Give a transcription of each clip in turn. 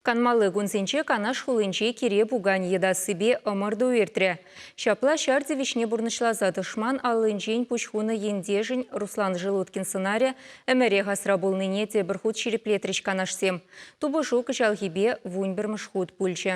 Канмалли кунсенче Канаш хулинче кире пуканӗ йӑтассипе ӑмӑрту иртрӗ. Ҫапла ҫар тивӗҫне пурнӑҫласа тӑшман аллинчен пуҫ хунӑ ентешӗн Руслан Желудкин сӑнарӗ ӗмӗрех асра пулнине тепӗр хут ҫирӗплетрӗҫ канашсем. Тупӑшу кӑҫалхипе вун пӗрмӗш хут пулчӗ.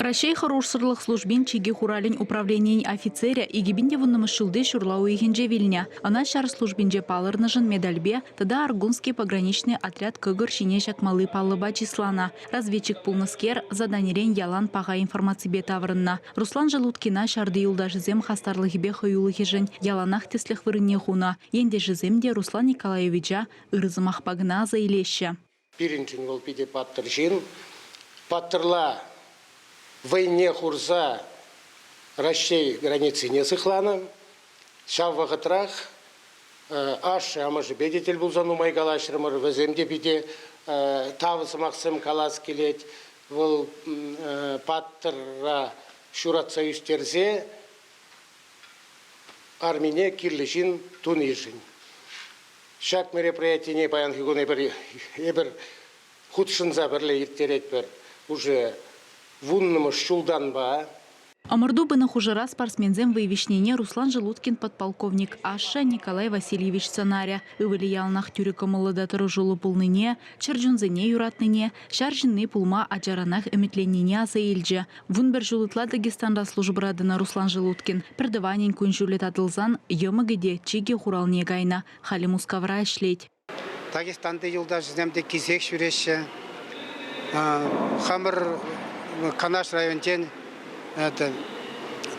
Раҫҫей хӑрушсӑрлӑх службин чикӗ хуралӗн управленийӗн офицерӗ икӗ те вуннӑмӗш ҫулти ҫурла уйӑхӗнче вилнӗ. Ӑна ҫар службинче палӑрнӑшӑн медальпе тата Аргунский пограничный отряд кӑкӑр ҫине ҫакмалли паллӑпа чысланӑ. Разведчик пулнӑскер заданирен ялан паха информаципе таврӑннӑ. Руслан Желудкина ҫарти юлташӗсем хастарлӑхӗпе хӑюлӑхӗшӗн яланах тӗслӗх вырӑнне хунӑ. Ентешӗсем те Руслан Николаевича ырӑ сӑмахпа кӑна аса илеҫҫӗ. Пирӗншӗн вӑл питӗ паттӑр ҫын. Паттӑрла вӑйне хурса Раҫҫей границине сыхланӑ. Ҫав вӑхӑтрах ашшӗ-амӑшӗпе те тӗл пулса нумай калаҫрӑмӑр. Вӗсем те питӗ тав сӑмахсем калас килет. Вӑл паттӑра ҫуратса ӳстерсе армине кирлӗ ҫын тунишӗн. Ҫак мероприятине паянхи кун эпир, эпир хутшӑнса пӗрле ирттеретпӗр уже вуннӑмӗш ҫултанпа. Ӑмӑрту пынӑ хушӑра спортсменсем вӑй виҫнине Руслан Желудкин подполковник ашшӗ Николай Васильевич сӑнарӗ, ывӑлӗ яланах тӳрӗ кӑмӑллӑ та тӑрӑшуллӑ пулнине, чӗр чунсене юратнине, Ҫар ҫынни пулма ачаранах ӗмӗтленнине аса илчӗ. Вун пӗр ҫул ытла Дагестанра службӑра тӑнӑ Руслан Желудкин пӗр тӑванӗн кун-ҫулӗ татӑлсан йӑмӑкӗ те чикӗ хуралне кайнӑ, халӗ Мускавра ӗҫлет. Дагестанти юлташӗсем те кисек ҫӳреҫҫӗ. Хамӑр Канаш районӗнчен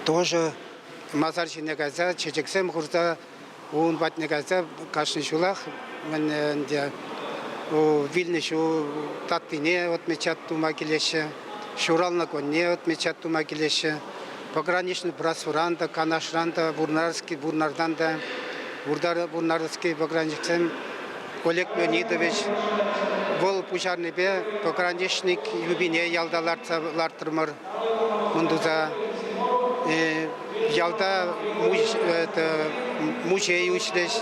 тоже масар ҫине кайса чечексем хурса Ун патне кайса кашни ҫулах ӗнтӗ вилнӗ ҫул таттине отмечать тума килеҫҫӗ, ҫуралнӑ кунне отмечать тума килеҫҫӗ. Пограничный братствӑран та, Канашран та, Вурнарский, Вурнартан та, Вурнарский пограничниксем Олег Леонидович вӑл пуҫарнипе пограничник юбине ялта лартрӑмӑр. Кун туса ялта музей уҫрӗҫ.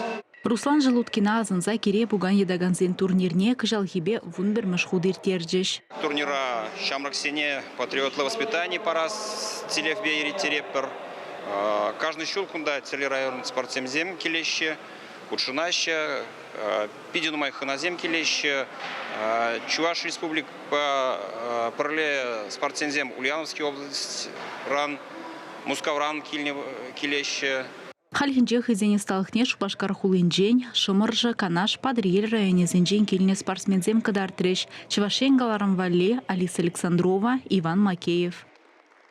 Руслан Желудкина асӑнса кире пукан йӑтакансен турнирне кӑҫалхипе вун пӗрмӗш хут ирттерчӗҫ. Турнира ҫамрӑксене патриотлӑ воспитани парас тӗллевпе ирттеретпӗр. Каждый ҫул кунта тӗрлӗ район спортсменсем килеҫҫӗ, хутшӑнаҫҫӗ. Питӗ нумай хӑнасем килеҫҫӗ. Чӑваш Республикӑпа пӗрле спортсменсем Ульяновский облаҫран, Мускавран килеҫҫӗ. Хальхинче хӑйсен ӑсталӑхне Шупашкар хулинчен, Шӑмӑршӑ, Канаш, Патӑрьел районӗсенчен килнӗ спортсменсем кӑтартрӗҫ, Чӑваш Ен каларӑм валли, Алиса Александрова, Иван Макеев.